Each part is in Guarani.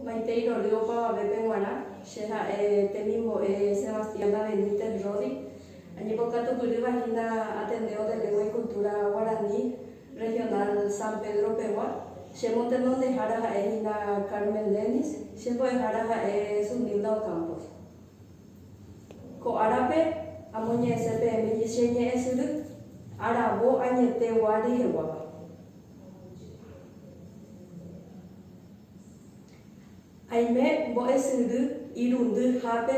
Maitei rorýo opavavépe g̃uarã, che ha'e temimbo'e Sebastiana Benítez Rodi. Añembokatupyrýva hína Ateneo de Lengua y Cultura Guarani Regional San Pedro pegua. Che motenondehára ha'e hína Carmen Dennis, che mbo'ehára ha'e Zunilda Ocampos. Ko árape amoñe'ẽse peẽme che ñe'ẽsyry aravo añete gua reheguáva. Aime mbo'esýndy irundy hápe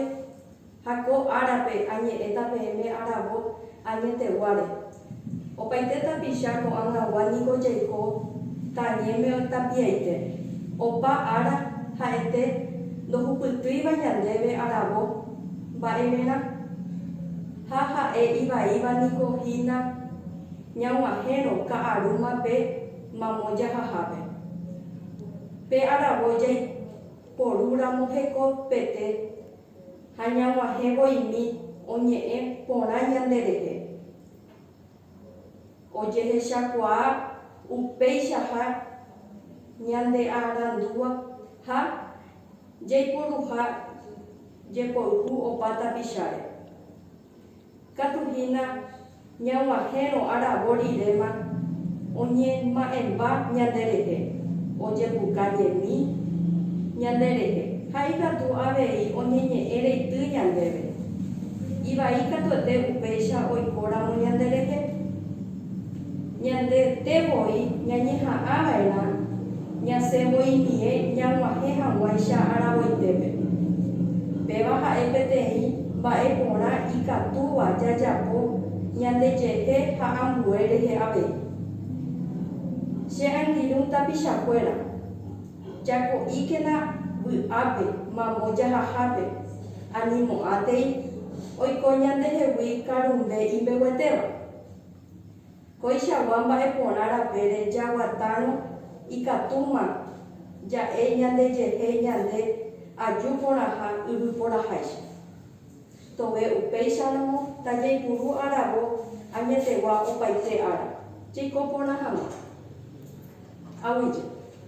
ha ko árape añe'ẽta peẽme aravo añeteguáre. Opaite tapicha ko'ag̃agua niko jaiko tañéme tapiaite. Opa ára ha'ete ndohupytýiva ñandéve aravo mba'everã ha ha'e ivaíva niko hína Ñag̃uahẽrõ ka'arúma pe mamo jahahápe. Pe aravo jaiporúramo hekopete ha ñag̃uahẽ voimi oñe'ẽ porã ñanderehe, ojehechakuaa upéichaha ñandearandúva ha jaiporuha jepoyhu opa tapicháre. Katu hína ñag̃uahẽrõ aravo riréma oñema'ẽmba ñanderehe, ojepuka ñemi ñanderehe ha ikatu avei oñeñe'ẽ reity ñandéve. Ivai katuete upéicha oikóramo ñanderehe. Ñande te voi ñañeha'ã va'erã ñasẽ mboynie ñag̃uahẽ hag̃uáicha aravoitépe. Péva ha'e peteĩ mba'e porã ikatúva jajapo ñandejehe ha ambue rehe avei. Che angirũ tapichakuéra, jako'íkena vy'ápe mambo jahahápe ani mo'ãtei oiko ñandehegui karumbe imbeguetéva. Koichagua mba'e porã rapére jaguatárõ ikatúma ja'e ñandejehe ñande aju porãha yvy porãháicha. Tove upéicharamo tajaipuru aravo añetegua opaite ára jaiko porã hag̃ua. Aguyje.